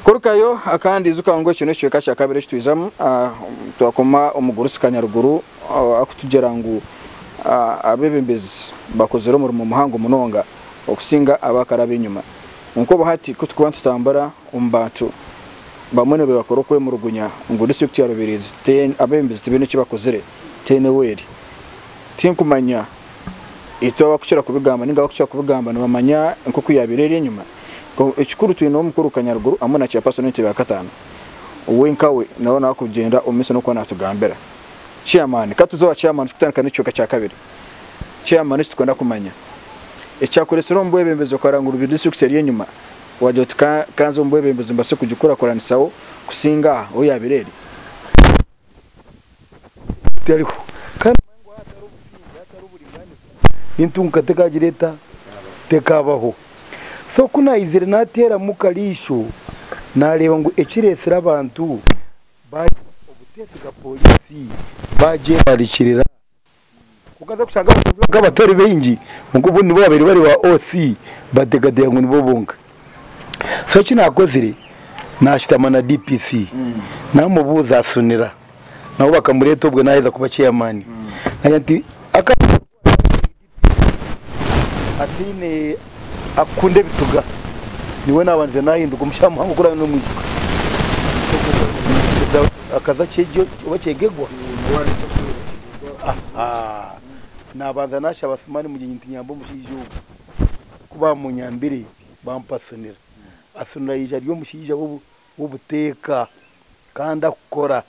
Kurukayo akandi ijuka ngu ekyo n'ekicweka kya kabiri eki twijamu ah, twakoma omugurusi kanyaruguru ah, akutugira ngu ah, abebembezi bakozire omurimo muhango munonga okusinga abakara ab'enyuma. Kwonka obu hati ku turikuba nitutambura omu bantu, bamwe nibakora okwemurugunya ngu disiturikiti ya Rubirizi abebembezi tibaine eki bakozire teine weri. Tinkumanya itwe abakukira kubigamba ninga abakukira kubigamba nibamanya enkuku yabaire eri enyima. Ekikuru twine omukuru Kanyaruguru hamwe na Chairperson w'entebe ya kataano we nkawe nawe nawe arikugyenda omu maiso n'okuba natugambira. Chairman ka tuze owa Chairman turikutandika n'ekicweka kya kabiri. Chairman eki turikwenda kumanya ekyakuretsire omu bwebembezi okara ngu Rubirizi disiturikiti eri enyima. Waagira oti, Ka, ka nze omu bwebembezi mbaase kugikuraakuranisaho kusinga aha ou yaabaire eri. Tariho. Kandi manya ngu ahatari obusinge, ahatari oburingaaniza, n'entunguuka tekaagira eta? Tekaabaho. So ku naizire naateeramu kariisho, naareeba ngu ekireetsire abantu baagira obuteesiga pooriisi, baagyerarikirira, Okaza kushanga abashaija bakaba batari baingi kwonka obundi nibo babaire bari ba OC bateekateeka ngu nibo bonka. So eki naakozire naashutama na DPC naamubuuza asunira nabo bakamureeta obwo naaheza kuba chairman. Naagira nti, ataine akukunda ebituga niwe nabanza nahinduka omushaija muhango ku oraabe nomwijuka akaza kyegyo oba kyegegwa nabanza nashaba asumani mugyenyi nti nyamba omushaija ogu ku bamunyambire bampa asunira asunira yaija ari omushaija w'obuteeka kandi akukora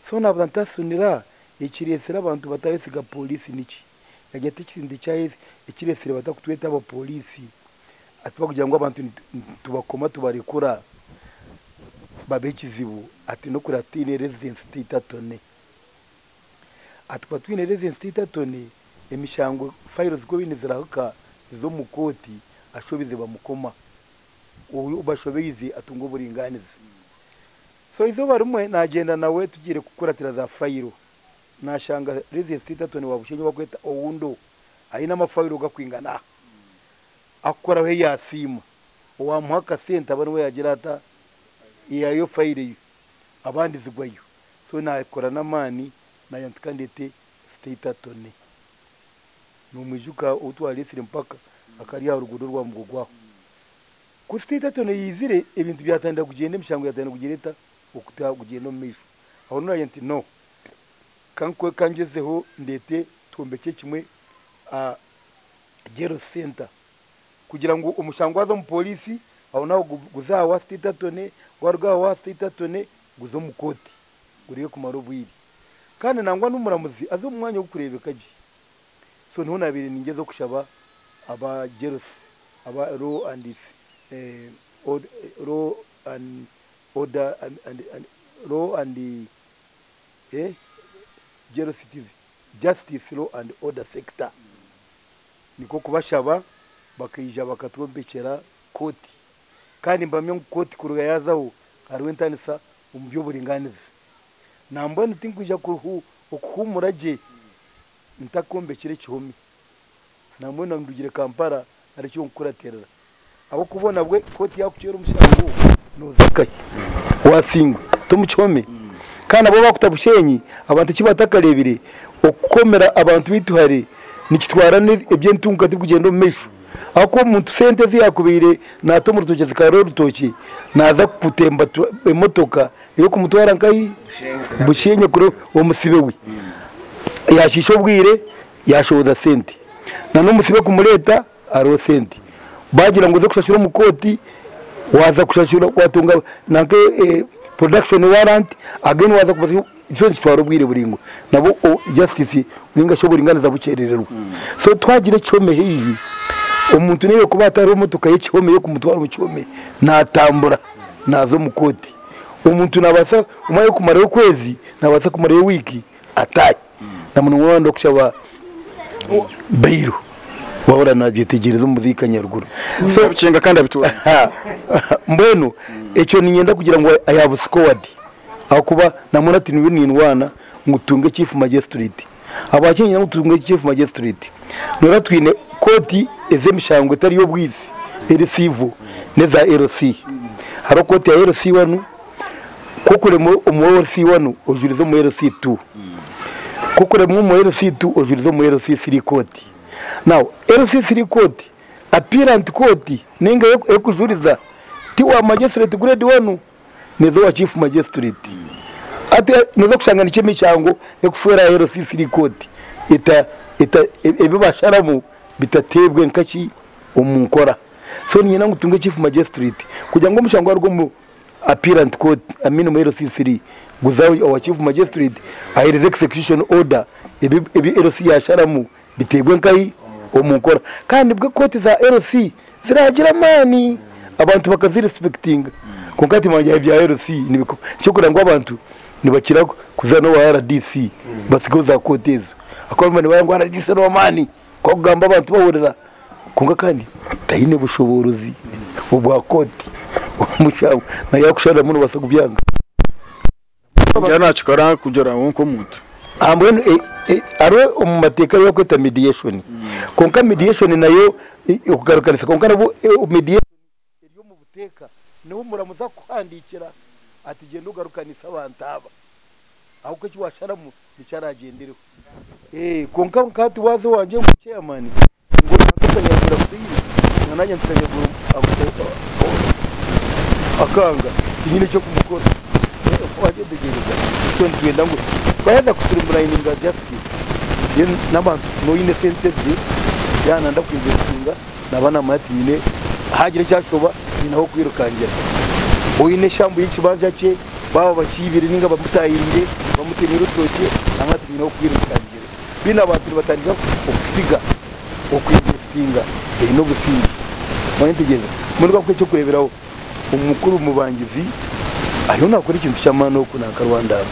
so nabanza nti asunira ekiretsire abantu batayesiga poriisi niki? Nanye tikirinda ekiretsire batakutweta aba police ati bakugira ngu abantu nitubakoma tubarekura babe ekizibu ati nokureba tutaine residence titor tone ati kuba tutaine residence titor tone emishango files kworine nizirahika niziza omu court ashobize bamukoma ou bashobeize atunga oburinganiza so eizooba rimwe nagyenda nawe tugiire kukuratira za file Nashanga Reverend Steeterton wa Bushenyi owakweta Oundo aine amafailo gakwingana aha akukoraho eyasiima owamuha akasente aba niwe yagira ata eyayo failo eyo abandi zigwayo so nakora namani nayenda nti kandete Steeterton nomwijuka outwaletsire mpaka akari aha rugudo rwa Mugogo aho. Ku Steeterton yaizire ebintu byatandika kugyenda emishango yatandika kugira eta okugyenda omumaisho aho nagira nti no ka ngyezeho ndeete twombekye kimwe aha Jail Centre kugira ngu omushango gwaza omu pooriisi aho naho guze aha wa State Attorney, gwaruga aha wa State Attorney guze omu kooti gureke kumara obwire. Kandi nangwa n'omuramuzi aze omu mwanya ogurikureebeka gye. So niho naabaire ningyezaho kushaba aba Jail aba Law and Order Law and Jerostice, Justice, Law and Order Sector, nikwo kubashaba bakaija bakatwombekyera kooti kandi nibahamya ngu kooti kuruga yaazaho hariho entanisa omu by'oburingaanizi. Nambwenu tinkwija okuhuumura gye ntakombekire kihome. Nambwenu andugire Kampala ari ekyonkukuratirira ahabw'okuba nabwe kooti yakucwera omushango noza nkahi wasingwa tomukihome kandi nabwo bakuta Bushenyi abantu ekibatakarebire okukomera abantu baitu hare nikitwara eby'entunguka tibikugyenda omu maisho ahabw'okuba omuntu sente ezi yakubaire nata omu rutookye zikarya orutookye naza kutemba emotoka eyokumutwara nkahi Bushenyi kuri omusibe we yashiisha obwire. Yaashohoza sente na n'omusibe kumureeta hariho sente. Baagira ngu oze kushashura omu kooti, waaza kushashura waatunga nanka production warrant again waaza kubaza ekyo nikitwara obwire buraingwa nabwo justice nainga shi oburingaaniza bukyerererwa. So twagira ekihome haihi, omuntu nainga kuba hati hariho motoka y'ekihome y'okumutwara omu kihome naatambura naaza omu kooti. Omuntu naabaasa omwe arikumarayo okwezi, naabaasa kumarayo wiiki ataahi. na munonga waaba nooyenda kushaba bairu waaba oranabyetegyereza omu buziika nyaruguru. So, Nabikyenga kandi abitwara. Ha, mbwenu ekyo niinyenda kugira ngu I have scored ahakuba naamara tiniwe nindwana ngu tutunge chief magistrate. Ahabwaki niinyenda ngu tutunge chief magistrate? Noreeba twine kooti ez'emishango etari y'obwaizi eri civil n'eza LC. Hariho kooti ya LC wanu, Kokuremwa omu LC1 ojurize omu LC2 kokuremwa omu LC2 ojurize omu LC3 court now LC3 court appearant court ninga ekujuriza ti wa magistrate grade 1 neza owa chief magistrate ati noza kushanga nikyo emichango ekufwera aha LC3 court eta eta ebibasharamu bitatebwe nkaki omu nkora so ninyenda ngu tunge chief magistrate kugira ngu omuchango aruge omu Appearant Court, Amin Mwero LC3, Guzawi owa Chief Magistrate aheereze Execution Order ebi ebi LC yaasharamu biteerwe nkahi omu nkora. Kandi nibwo kooti za LC ziraagira amaani, abantu bakazi respectinga. Kwonka hati nimanya ebya LC nibiko. Eky'okureeba ngu abantu nibakira kuza n'owa rdc batsigeho za kooti ezo. Ahabw'okuba nibareeba ngu rdc n'ow'amaani. Kwakugamba abantu bahurira kwonka kandi taine bushoboorozi obwa kooti omushango na yakushariramu nobaasa kubyanga. Kugira nakikora kugira ngu nk'omuntu. Aha mbwenu e- e- hariho omu mateeka ayi barikweta mediation kwonka mediation nayo e- okugarukanisa kwonka nabwo e- mediation eri omu buteeka niho muramuza kukuhandiikira ati gyenda ogarukanise abantu aba ahabw'okuba eki waasharamu nikyo araagyendereho. Kwonka nka hati waaza owangye ngu chairman ngu naaza nyagira kubaine na naanye nkagira ngu akanga tinyine eky'okumukora waakyetegyereza nikyo nitwenda ngu twaaheeza ku streamlininga justice then n'abantu kufuna oine sente ze yaaba nanda kwija kuhinga Naaba naamanya ati nyine haagira eki ashoba nyine ah'okwirukangira. Oine eshambu y'ekibanja kye baaba bakiibire nainga bamutaahiriire, bamutemire orutookye naamanya ati nyine ah'okwirukangira. Mbwenu abantu nibatandika kusiga okweinvesitinga oine obusingye. Omanya entegyereza? Mbwenu kakuhe eky'okureeberaho. Omukuru mubangizi ariyo naakora ekintu ky'amaani oku nanka Rwanda aba.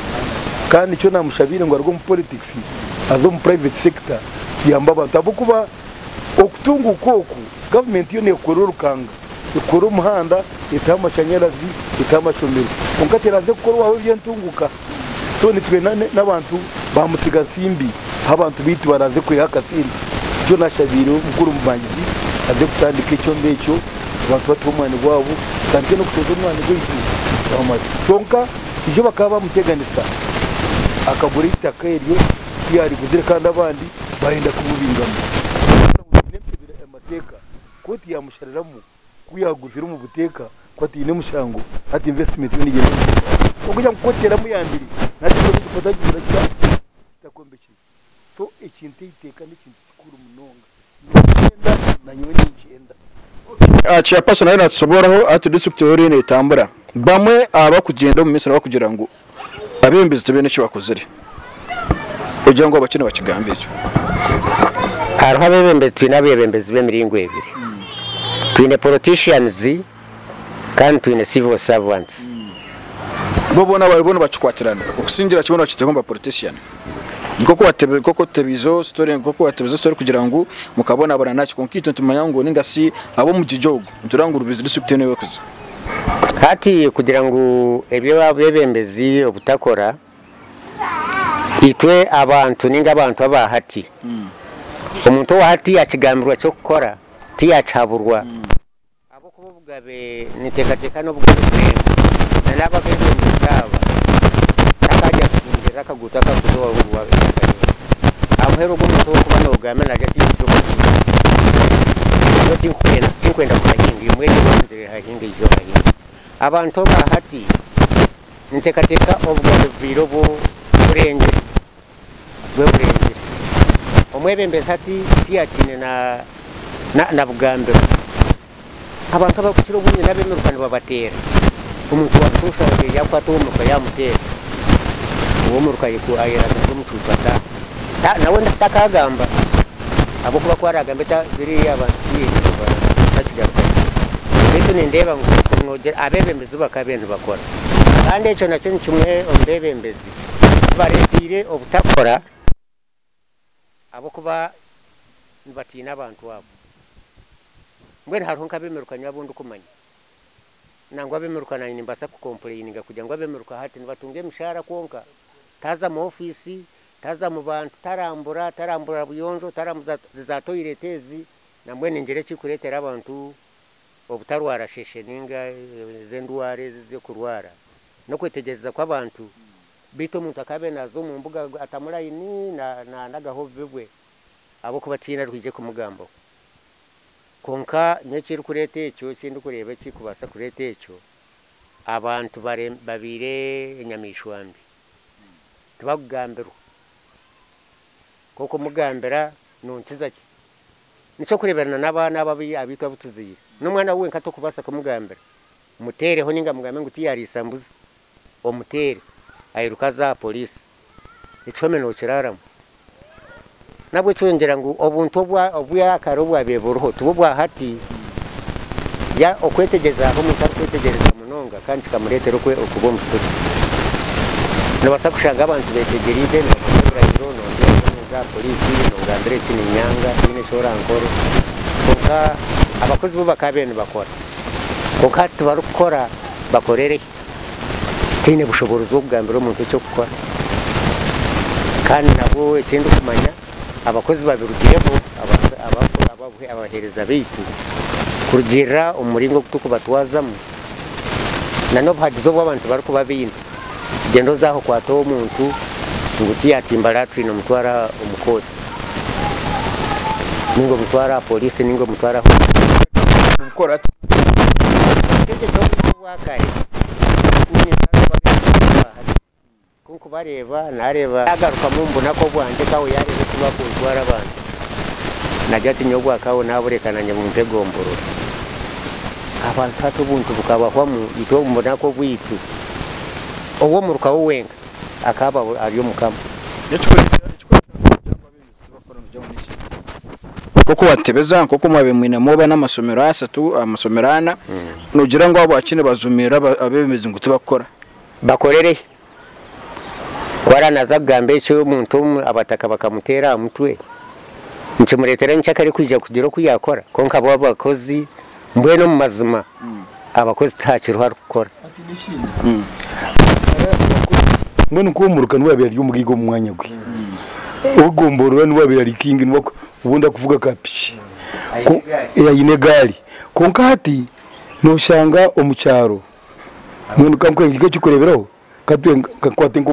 Kandi nikyo naamushabiire ngu aruge omu poritikisi aze omu puraiveti sekita kuyamba abantu ahabw'okuba. Okutunguuka oku, gavumenti yo neekora orukanga, ekora omuhanda, eteho amashanyarazi, eteho amashomero kwonka teraze kukorwaho eby'entunguuka. So nitwenda n'abantu ba mutsiga nsimbi ahu abantu baitu baraze kwiha akasente. Nikyo naashabiire omukuru omubangizi aze kutandika ekyoma ekyo abantu batuhe omwani gwabo, tutandike n'okushorora omwani gwaitu kwonka izooba bakaba baamuteganisa akagura eitaka eryo. ku yaariguzire kandi abandi baayenda kububingamu. Haza ngu taine ntebera ya mateeka, kooti yaamushariramu ku yaaguzire omu buteeka ku ataine mushango hati investimenti yo neegyenda omu buteeka. Kwonka ngu kooti yaramuyambire naateekaho ekipataazo ngu kitakombekire. So ekintu eiteeka n'ekintu. kikuru munonga. Noogyenda? Nanyowe ningyenda. Okay, aha kya Pastor naayo naatusoboraho hati district yoona eriyo neetambura. Bamwe aha barikugyenda omu maisho nibakugira ngu abeebembezi tibaine eki bakozire. Ogira ngu abakye nibakigamba ekyo? Hariho abeebembezi, twine abeebembezi b'emiringo ebiri. Twine politicians Kandi twine civil servants. Bo boona baribo nibakikwatirana okusingira ki boona bakiteho ngu ba politician. Nkoku watebe nkoku otebeize o story nkoku watebeize story kugira ngu mukabonabona naki kwonka itwe nitumanya ngu ninga si ab'omugigi ogu nitureeba ngu Rubirizi district yoona ewe kuza. Hati kugira ngu ebi abebembezi obutakora itwe abantu ninga abantu aba hati omuntu owa hati yakigambirwa ky'okukora tiyakihaburwa. Ahabw'okuba obugabe ninteekateeka n'obugabe bw'ensi, na n'abo abeebembezi aba takaija kuhingirira akaguuto akakuza owa Ruguru wa B'eihanga ryona. Aha muheru ogu omuntu ow'okuba noogambira naagira ati, Ijutsya okuhinga, nyowe tinkukwenda, tinkwenda kuhahinga, imwe eryo eribanzire rihahinge, ija ohahinge. Abantu aba hati ninteekateeka obugabe bubaire obw'okurengyera, bw'eburengire. Omwebembezi hati tiyaakiine na bugambiro. Abantu abakukira obungi n'abemiruka nibabateera. Omuntu wa butoosha abaire yaakwata ow'omuruka yaamuteera, ow'omuruka ayeragariza omucuucu ataahe. Nawe takaagamba ahabw'okuba ku araagambe biriya abantu tibakigarukayo. Beitu nindeeba ngu abeebembezi bakaba baine ebi bakora. Kandi ekyo nakyo ni kimwe omu beebembezi. Bareeteire obutakora ahabw'okuba nibatiina abantu abo. Mbwenu hariho nk'abeemirukanya abu ndikumanya, nangwa abeemiruka naanye nimbaasa kukompureyininga kugira ngu abeemiruka hati nibatunga emishaara kwonka taaza mu ofiisi, taaza mu bantu, tarambura, tarambura buyonjo, tarambuza zaatoireeti ezi, nambwenu ningira ekirikureetera abantu obutarwara sheshe nainga ez'endwara ezi ez'okurwara. N'okwetegyereza kw'abantu, beitu omuntu akaabaire naaza omu mbuga atamu layini naandagaho obubi bwe, ahabw'okuba tihaine arikwiija kumugambaho. Kwonka nyowe ekirikureeta ekyo, eki ndikureeba ekirikubaasa kureeta ekyo, abantu babaire enyamaishwa mbi, tibakugambirwa. Kwonka omugambira nookiza ki? N'eky'okureebera n'abaana abo abaitu abu tuzaire, n'omwana we wenka torikubaasa kumugambira. Muteereho ninga mugambe ngu tiyariisa mbuzi. Omuteere. Airuka aza aha poriisi. Ekihome nookiraaramu. Nahabw'ekyo ngira ngu obuntu obwakare obwabaire buriho tibwo bwa hati. Ya, okwetegyereza hariho omuntu arikwetegyereza munonga kandi kikamureetera okuba omusiru. Noobaasa kushanga abantu beetegyereize nibateera ebirahiro, noonteeraho ninza aha poriisi nongambira eki niinyanga, tihaine eki orankore. Kwonka abakozi bo bakaabaire nibakora. Kwonka hati tibarikukora, bakorere ki? Tihaine bushoboorozi bw'okugambira omuntu eky'okukora. Kandi nabwo eki ndikumanya, abakozi babirugireho, abaheereza baitu, kurugiirira omu muringo ogu turikubatwazamu, n'obuhagizi obu abantu barikuba baine. Gyenda oze aho okwate omuntu ngu tiyatimba latrini omutware omu kooti ninga omutware aha poriisi ninga omutware ahu orikukora ati Obutegeki obu n'obwakare kunkubareeba nareeba yagarukamu ngu naka obwangye kawe yareeba eki bakuntwara abantu nagya ati nyowe obwa kawe nabureka nanye bumpe gomborora abantu hati obuntu bukabahwamu itwe omu bunaku obwitu. ow'omuruka we wenka akaba ari omukama. N'ekikwereka ngu ebyago abeebembezi ebi bakora nibijwaho n'ekibi. Nk'oku waatebeza, nk'oku mwabaire mwinemu oba n'amasomero ashatu, amasomero ana, noogira ngu ahabwaki nibajumirira abeebembezi ngu tibakukora? Bakorere hi? Ku araba naaza kugamba ekyo omuntu omwe abataka bakamuteera aha mutwe, nikimureetera niki akarikwija kugira oku yaakora? Kwonka bo abakozi. Mbwenu omu mazima abakozi tihakiriho arikukora. Mbwenu nka omuruka niwe abaire ari omugaiga omu mwanya gwe. Ogomboroora niwe abaire ari king niwe obundi arikuvuga ka piki aine egaari. Kwonka hati noshanga omu kyaro, mbwenu ka nkuhe ekirikureeberaho, ka twe, ka nkwate nka.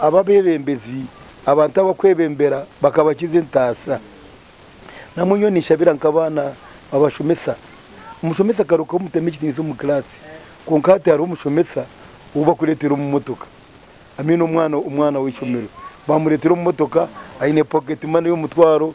Aba beebembezi, abantu abakwebembera bakabakiza entaasa. Namwe nyowe ninshabira nk'abaana babashomesa. Omushomesa akarugaho omutema ekitiniisa omu kiraasi kwonka hati hariho omushomesa ou bakureetera omu motoka. I mean omwana omwana w'eishomero baamureetera omu motoka aine pocket money y'omutwaro.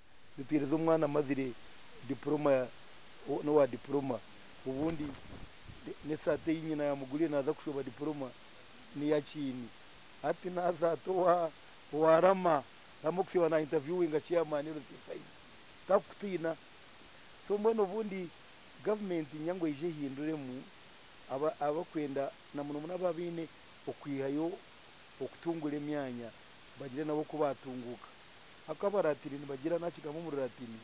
Nituheereza omwana amazire dipuroma n'owa dipuroma obundi n'esaati ei nyina yaamuguriire naaza kushoba dipuroma n'eya kiini. Hati naaza ata owa Rama? Rama okusiiba naayintavyuwinga ceyamaani Rusesaizi tarikukutiina. So mbwenu obundi gavumenti niinyenda ngu eije ehinduremu abarikwenda na muno muno abaabaine okwihayo okutungura emyanya bagire nabo oku baatunguuka. Aku Abalatini nibagira na kigambo omu Rulatini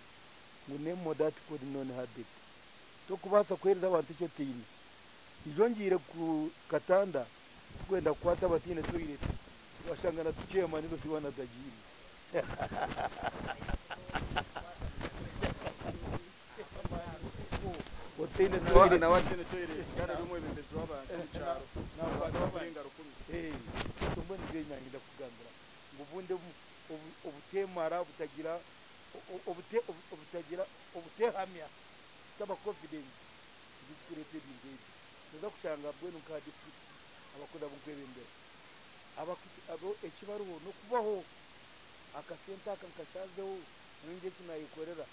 ngu Nemo dat quod non habet, Tokubaasa kuheereza abantu eki otaine. Ijo ngiire ku katanda tukwenda kukwata abataine toireti, twashanga na tuceema nigo si baana tagiine. Otaine toireti. ngu obunde obuteemara, obutagira obutagira obuteehamya, kutaba confident ngu ekirikureeta ebintu ebi. Nooza kushanga mbwenu nk'aha district abakozi abu nkwebembera eki bariho n'okubaho, akasente aka nkashaazeho nyowe ngire eki naayekorera.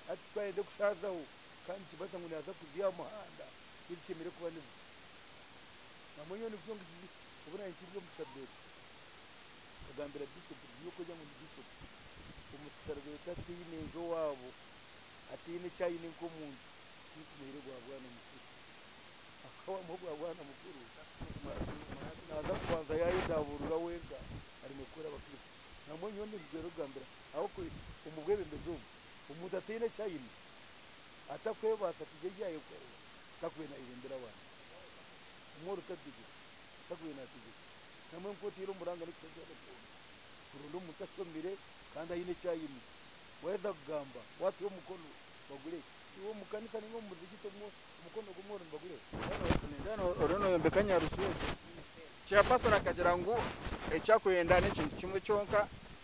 Hati ku arenda kushaazaho kandi nikibaasa ngu naaza kuziha aha muhanda n'ebishemereire kuba nibyo. Obumwe nyowe nikyo obu naahikiriire omu Shabebe. nkagambira Bishop nti by'okwega ngu ndi Bishop, omu kisharagure tataine nju owaabo, ataine eki aine nk'omuntu, tinkumuhaire gwa bwana mukuru. Ahabw'okuba waamuha ogwa bwana mukuru, naaza kubanza yaayedabuurura wenka aremwe kukorera Abakristo. Na mbwenu nyowe ndikugyezaho kugambira ahabw'okuba omu bwebembezi omu, omuntu ataine eki aine, atakwebaasa kugira ebi yaayekorera, takube naayebembera abantu. Omworo tagizire, takube naategeka. nambwa nka otaire omu buranga n'ekitagenda kyona kuronda omuntu ashomire kandi aine eki aine. Waheza kugamba wateho omukono bagure ki? Iwe omu kanisa ninga omu muzigiti omukono gumwe oriho nibagura eki? Ningira oriyo noyombeka nyaruju egyo. Chairperson akagira ngu eki akwenda n'ekintu kimwe kyonka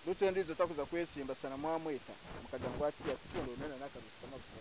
Ruto endijo takuza kwesimba shana mwamweta mukagira ngu atiya tikunda oriyo nana akaruju k'amajuta.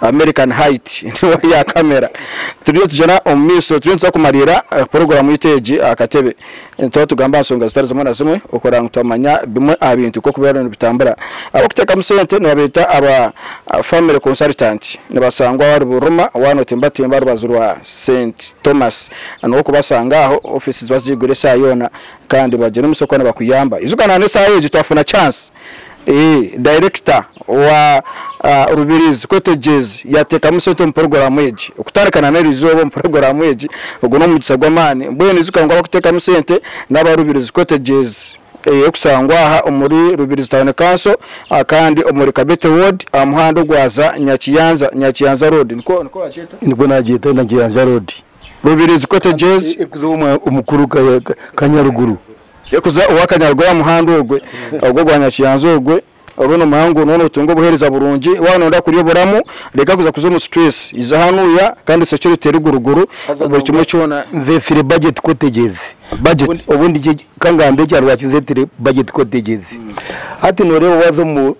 American Height niwe rya kamera turiyo tugyera omu maisho turiyo nituza kumariira puroguramu yaitu egi aha katebe nituba tugamba aha nsonga zitari zimwe na zimwe okuranga ngu twamanya bimwe aha bintu nk'oku biriyo nibitambura ab'okuteekamu sente nibabeeta aba Family Consultant nibashangwa ahari Buruma waaba notimbatimba aha rubaju rwa St Thomas niho okubashanga aho ofiisi ziba ziigwire esaaha yoona kandi bagira omutsyo ku bakuyamba ijuka na n'esaaha egi twafuna chance Ee, dayirekita wa Rubirizi Kwetegyeezi yaateekamu sente omu puroguraamu egi. Okutandika na n'eri izooba omu puroguraamu egi, ogu n'omugisa gw'amaani. Mbwenu ijuka ngu abakuteekamu sente n'aba Rubirizi Kwetegyeezi ey'okushangwa aha omuri Rubirizi Town Council kandi omuri Kabete Ward aha muhanda ogwaza Nyakiyanza, Nyakiyanza Road. Nikwo nikwo waagyeta? Nikwo naagyeta, Nyakiyanza Road. Rubirizi Kwetegyeezi. Ekuza omu mukuru Kanyaruguru. Yakuza owa kanyaruga owa muhanda ogwe, ogwo gwa nyakiyanzi ogwe, orwo nomuha ngu noba notunga obuhereza burungi, waba noyenda kurya oburamu, reka kuza kuza omu stress, iza hanuya kandi osekye orutere guru guru buri kimwe kyona. Nze fire budget cottages, budget obundi kangambe ekya rwaki nzetire budget cottages, hati noreeba waza omu.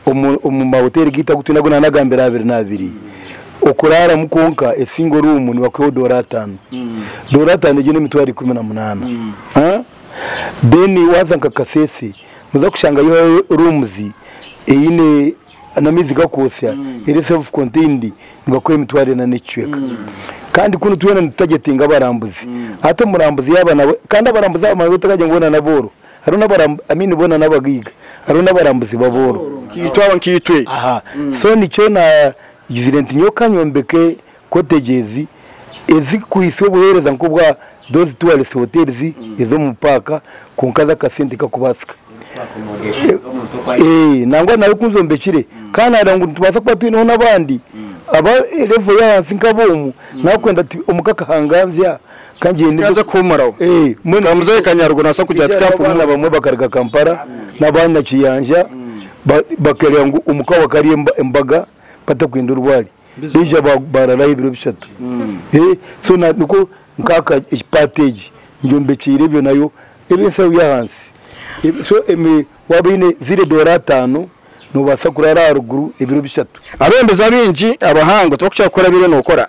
omu mahoteeri gaitu agu twine agu naanagambire abiri n'abiri, okuraaramu kwonka esingo ruumu nibakuha doora ataano. Doora ataano egyo n'emitwaro ikumi na munaana. Then waaza nka Kasese nooza kushangayo rooms eine n'amaizi gakwotsya eri self contained nibakuha emitwaro ena n'ekicweka. Kandi kunu twena nitutargetinga abarambuzi. Hati omurambuzi yaaba nawe, kandi abarambuzi abo manya otakagira ngu boona n'abooro. Hariho n'abarambuzi, I mean boona n'abagaiga, hariho n'abarambuzi b'abooro. Nkaitwe abo, nkaitwe. Aha, so nikyo naagizire nti nyowe kanyombeke cottages ezirikuhitsya obuheereza nk'obwa those tourist hotels ez'omu paaka kwonka z'akasente kakubaasika. Eeh, nangwa naawe ku nzombekire ka naareeba ngu nitubaasa kuba twineho n'abandi aba level y'ahansi nk'aboomu, naakwenda ti omu k'akahanganzya Kaaza kuhumuraho. Ka muzehe Kanyaruguru naabaasa kugira ati kaampumura. Abaana bamwe bakaruga Kampala n'abaana Kiyanja bakareba ngu omuka waabo akaba ari embaga batakwenda orwari. Baija baararayo ebiro bishatu. So nikwo nkaaka egi paati egi ngyombekyeire ebyo nayo ebe enshaho y'ahansi. So waaba oine ziri edoora ataano, noobaasa kuraara aharuguru ebiro bishatu. Abebembezi abaingi abahango tibakukira kukora ebi oriyo nookora.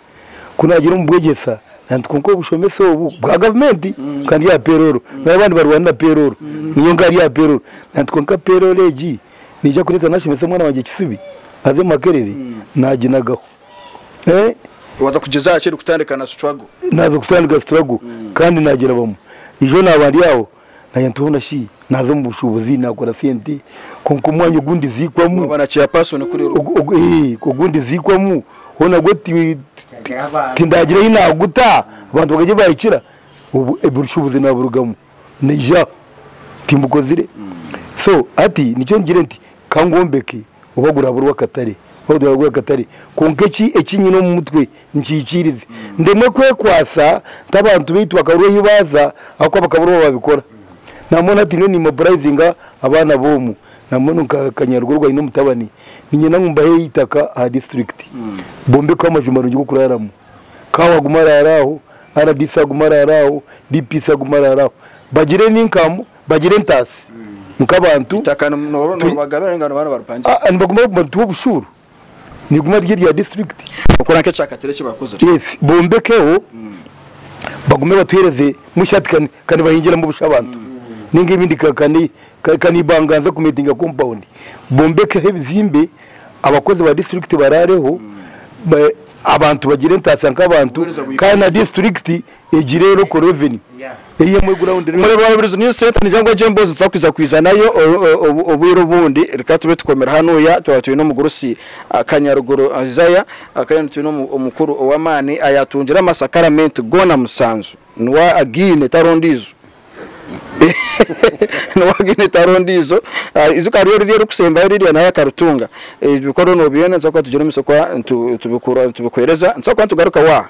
Ku naagira omu bwegyesa, nanti kwonka obushomesa obu bwa gavumenti kwonka ndi aha perooro, nari abandi barwane na perooro nyowe nkaba ndi aha perooro. Nanti kwonka perooro egi neija kureetera naashomesa omwana wangye kisibi aze Makerere naaginagaho. Waaza kugyezaho ki erikutandika na struggle? Naaza kutandika struggle kandi naagirabamu. Ijo naaba ndi aho Nanye ntoona shi naaza omu bushuubuzi naakora sente kwonka omwanya ogu ndiziikwamu Waaba na chairperson kuri orugo. ogu- ogu- eh, ogu ndiziikwamu ho nagwo ti- tindaagira ei naaguta abantu bakagye baahikira obu obushuubuzi naaburugamu naija timbukozire. So hati nikyo ngire nti ka ngombeke oba guraabe orwakatare oba guraabe ogw'akatare kwonka eki eki nyine omu mutwe nkiikirize ndemwe kwekwatsa nk'abantu baitu bakabura ahu baaza ahabw'okuba bakabura obu babikora. Naamwe natiine niimoburayizinga abaana b'omu, na mbwenu nka kanyarugo ogwo aine omutabani, niinyenda ngu mbahe eitaka aha disiturikiti bombekweho amaju marungi g'okuraaramu. Kaawa agume araare aho, rdc agume araare aho, DPC agume araare aho. Bagire eninkamu, bagire entaatsi nk'abantu. Eitaka noba oribagabira ninga noba nibaripangisibwa? Aa nibaguma barikutuha obushuuru. niriguma riri erya disiturikiti. Okora nk'ekyakatare eki baakuzire. Yes, bombekyeho bagume batuhereze mushya hati ka ka nibahingiramu busha abantu ninga ebindi ka ka ni ka ka nibanga nza kumeetinga kompawundi bombekyeho ebizimbe abakozi ba disiturikiti baraareho ba abantu bagire entaasa nk'abantu Kuheereza buri kandi na muntu. disiturikiti Egi rero oko revenue eri emwe ground rero. Murebe waburiza niyo sente nija ngu egyo embozi tutakwiza kwiza nayo obwire obundi reka tube tukomire hanuya twaba twine omugurusi kanyaruguru Isaiah kandi nitwine omukuru owamani ayatungire amasakaramenti gona musanju niwe agine tari ondijo niwe agine tari ondijo ijuka hariyo riryo erikusembayo rirya nawe akaritunga ebyo bikoro nobyenda nitubaasa kuba tugire omu isokwa nitubikuhereza nitubaasa kuba nitugarukaho aha.